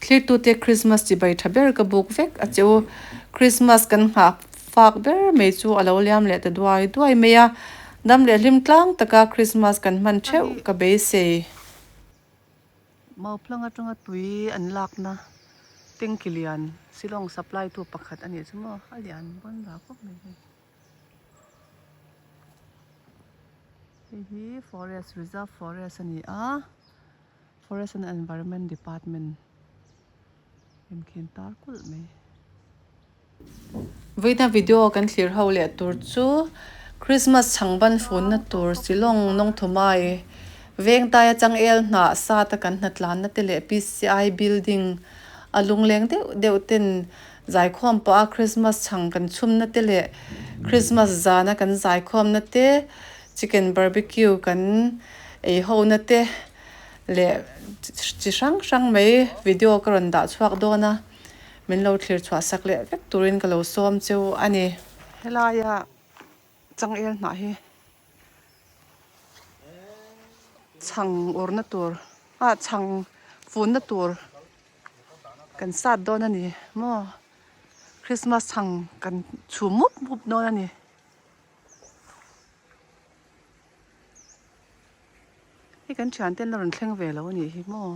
Thliktute Krismas chibai tha ber ka buk vek a che u. Krismas kan nghak fak ber mai chu a lo liam leh ta duai duai mai a. Dam leh hlim tlang taka Krismas kan hman theuh ka beisei. Mauphlang atanga tui an lakna tanky lian silawng supply tu pakhat a nih chu maw? A lian vawn rau khawp mai hei. Hei hi forest reserve forest a ni a. Forest and Environment Department inkhên târ kulh mai. Vawiina video kan thlir ho leh tur chu Christmas chhang ban funna tur Silawng Nawngthumai Vengtaia Changel hnah sâta kan hnatlanna te leh PCI Building a lungleng deuh deuh ten zaikhawm paha Christmas chhang kan chhumna te leh Christmas zana kan zaikhawmna te Chicken barbecue kan ei hona te leh chi hrang hrang mai video ka rawn dah chhuak dawn a, min lo thlir chhuah sak leh vek turin ka lo sawm cheu a ni. Helaia changel hnah hi chhang urna tur a chhang funna tur kan sat dawn a ni maw, Christmas chhang kan chhum mup mup dawn a ni. Hei kan thian ten la rawn thleng ve lo a nih hi maw.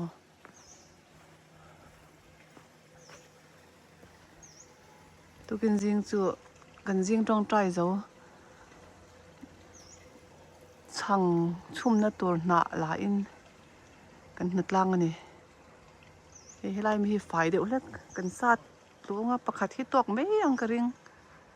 Tukin zing chu kan zing tawng try zo. Chhang chhumna tur hnah la in kan hna tlang a ni. Hei helai mi hi fai deuh hlek kan sat luanga pakhat hi tawk mai ang ka ring.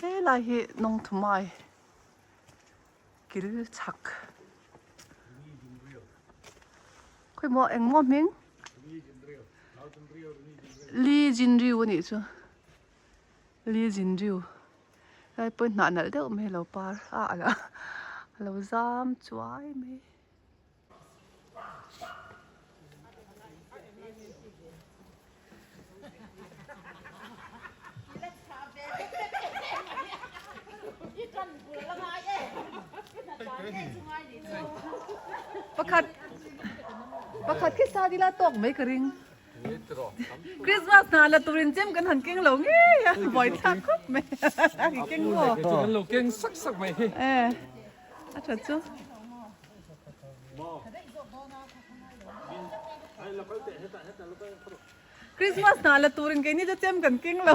Helai hi Nawngthumai kil chhak khawi maw engmaw hming Lee Jin Ryu a nih chu Lee Jin Ryu helai pawhin hnah nalh deuh mai a lo par a a lo zam chuai mai. Pakhat pakhat khi sa dil a tawk mai ka ring. Christmas hna la turin chem kan han keng lo ngei a, buai thlak khawp mai. Keng maw? Keng lo keng sak sak mai hi. A tha chu. Christmas hnah la turin keini chu chem kan keng lo.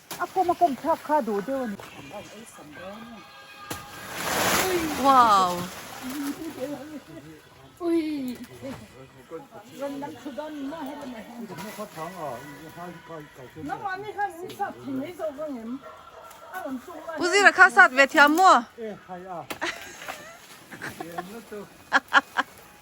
A kawm a kawm thlak kha duh deuh a ni. Wow. Pu Zira kha sat ve thiam maw?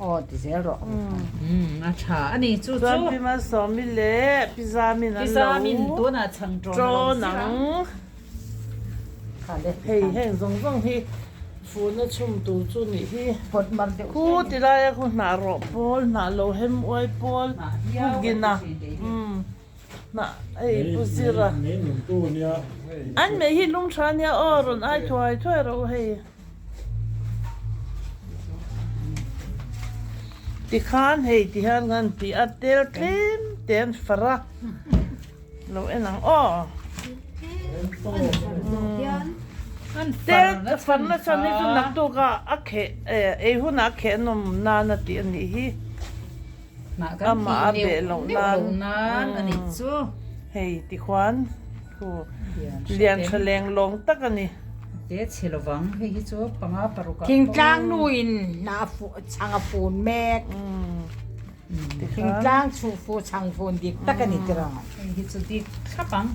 Aw ti zel rawh. Umm a tha a ni chu chu. Chuan Pimal Sawmi leh Piza Min an lo tawn ang. Hei heng zawng zawng hi fun a chhum tur chu nih hi. Hu ti lai a khaw hnah rawh pawl, hnah lo hem uai pawl, Pu Gina umm hnah ei Pu Zira. An meh hi lungtha nia aw rawn ai thuai thuai rawh u hei. Tikhan hei ti hian kan ti a tel tlim ten fara lo en ang aw. Tel far na chuan hi chu naktuk a a kheh ei hunah a khehnawm nan a tih a nih hi. Amah a beh loh nan hei ti khuan thu lian tha leng lawng tak a ni. Thingtlang nu in hna a fuh chhang a fun mek. Thingtlang chhuh fuh chhang fun dik tak a ni tir ang. Hei hi chu dik thlap ang.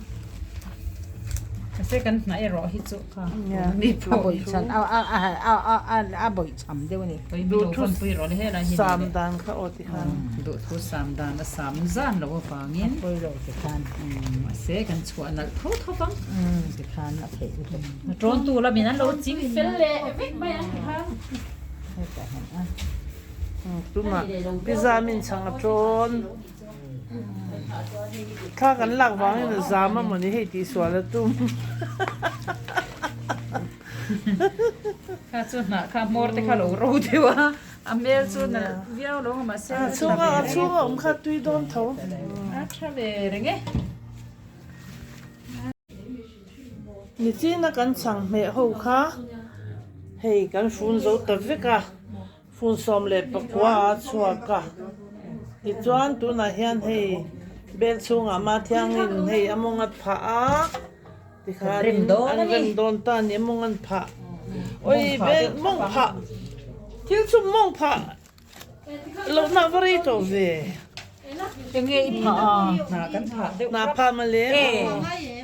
Mahse kan hnaih erawh hi chu ka a bawih chhan a bawih chhan. Sam deuh ani. Duh thu sam dan kha aw tikhan. Duh thu sam dan a sam zan lo avangin. A pawi lo tikhan. Mahse kan chhuah nalh tho tho bang. Tikhan a theih lutuk. Tawntu lamin an lo ching fel leh vek mai ang tikhan. Hetah hian a. Tuma piza min chhang a tawn. Thla kan lak vangin a zam amaw ni hei tihsual a tum. Kha chu hnah kha hmawr te kha lo ro deuh a, a hmel chu na viau lo mah se. A chhung a, a chhung a awm kha tui dawn tho. A tha ve reng e. Ni chin a kan chhang hmeh ho kha hei kan fun zo ta vek a. Fun sawm leh pakua a chhuak a, tichuan tunah hian hei bel chhungah ma thiangin hei a mawngat phah a, tikhanin an rem dawn ta a ni, a mawngan phah, awi bel mawng phah, thil chhum mawng phah lohna va rei tawh ve. Enge i phah a? Hna kan phah deuh hlek. Hna phah mah le. Ee.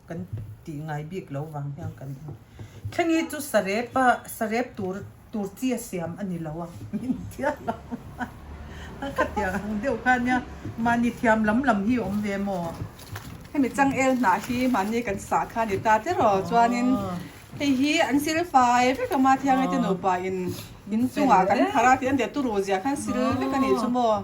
kan tih ngai bik lo vang hian kan en. Thleng hi chu Sarepa, Sarep tur, tur chi a siam a ni lo a, min tia lo a. A khatiang ang deuh kha nia, mahni thiam lam lam hi awm ve maw? Hemi changel hnah hi mahni kan sah kha a ni ta teh rawh, chuanin hei hi an sil fai vek a, Mahthia ngaite nupa in, in chungah kan phar a tih a, an tih a, Turu zia khan sil vek a nih chu maw?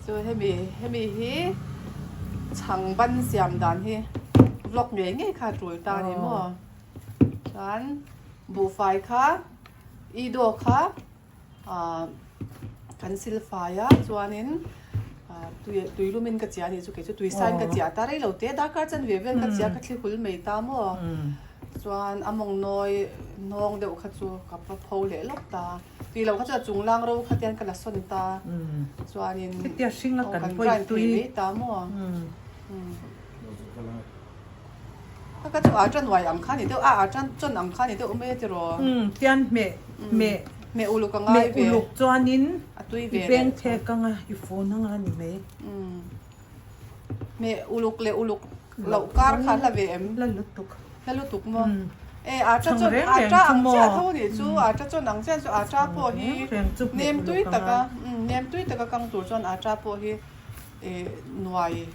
Chu hemi hemi hi chhang ban siam dan hi vlog ngei ngei kha tul ta ni maw chuan buhfai kha i daw kha kan sil fai a chuanin tui tui lumin ka chia ni chu kei chu tui sain ka chia ta rei lo te darkar chan ve vel ka chia ka thli hul mai ta maw chuan amawng nawi nawng deuh kha chu ka pho leh lawk ta. Tih lo kha chuan chung lang ro kha tian ka la sawn ta chuanin Hetia hring a kan pawi tui mai ta maw Ka ka chu a tan uai ang kha ni deuh a a tan chawn ang kha ni deuh mai a ti raw tian hmeh hmeh hmeh uluk a ngai ve hmeh uluk chuanin a tui ve leh I beng phek anga I fun anga ni mai hmeh uluk leh uluk. Loh kar kha hla ve em? Hla lutuk. Hla lutuk maw? E aa ṭha chuan aa ṭa ang chiah tho nih chu, aa ṭa chuan ang chiah chu aa ṭa pawh hi nem tui tak a, nem tui tak a kang tur chuan aa ṭa pawh hi nuai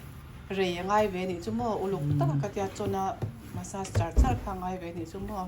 rei a ngai ve nih chu maw, uluk tak a ka tia chawn a massage char char kha a ngai ve nih chu maw.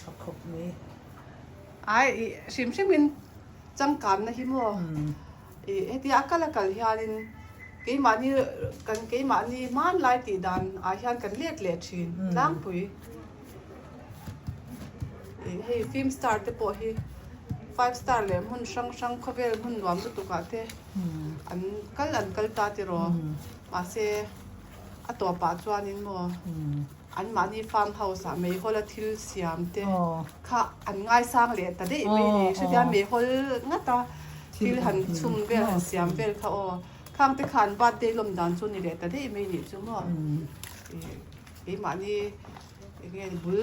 Tha khawp mai. Ai i hrim hrimin changkamna hi maw? I hetia a kal a kal hianin keimahni kan keimahni hmanlai tih dan ah hian kan let leh thin tlangpui. I hei film star te pawh hi five star leh hmun hrang hrang khawvel hmun nuam lutuk ah te an kal an kal ta tiraw? Mahse A tawpah chuanin maw anmahni farm house ah Meihola thil siam te kha an ngaisang leh ta daih mai ni. Hretia Meihol ngat a thil han chhum vel, han siam vel kha aw. Khang te kha an birthday lawm dan chu ni leh ta daih mai nih chu maw. Keimahni enge bul.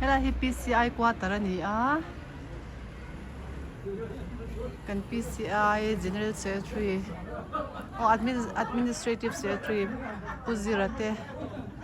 Helai hi PCI quarter a ni a, kan PCI General Secretary aw Admin Administrative Secretary Pu Zira te.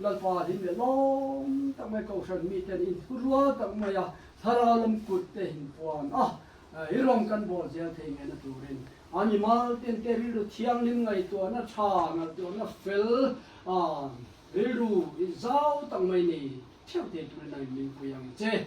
Lalpa ding leh lawng tak mai Kohhran mi ten in thu rual tak mai a Thlarau lam kut te in puan a, i rawng kan bawl zial thei nge na turin a mimal ten te rilru thianghlim ngaihtuah na tha ngalh tuah na fel a rilru in zau tak mai nei thiau thei turin a in min pui ang che.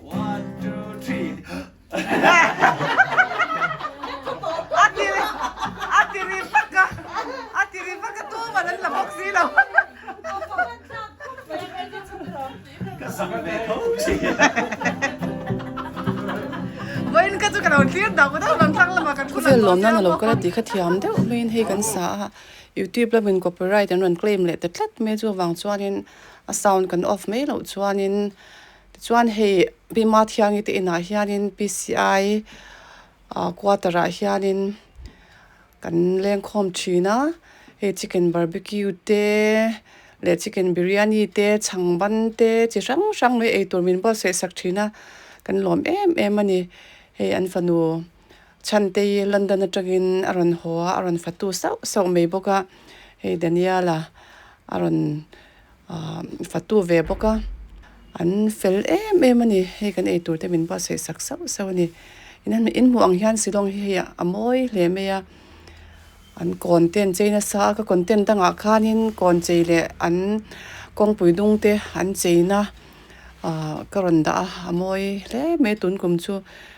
Khawvel lawmna na lo kal a tih kha thiam deuh maiin hei kan sa a, YouTube lawmin copyright an rawn claim leh ta tlat mai chu avang chuanin a sound kan off mai loh chuanin. Tichuan hei Pima Thiangi te inah hianin PCI quarter ah hianin kan lengkhawm thin a, hei chicken barbecue te leh chicken biryani te, chhang ban te chi hrang hrang mai eitur min buatsaihsak thin a kan lawm em em a ni. Hei an fanu. Chhante hi London atangin a rawn haw a, a rawn fatu sauh sauh mai bawk a, hei Daniela a rawn fatu ve bawk a, an fel em em a ni, hei kan ei turte min buatsaihsak sauh sauh a ni, in hmuh ang hian Shillong hi hei a a mawi hle mai a, an kawn te an chei nasa a, ka content dangah khanin kawn chei leh an kawngpui dung te an cheina ka rawn dah a, a mawi hle mai a tun kum chu.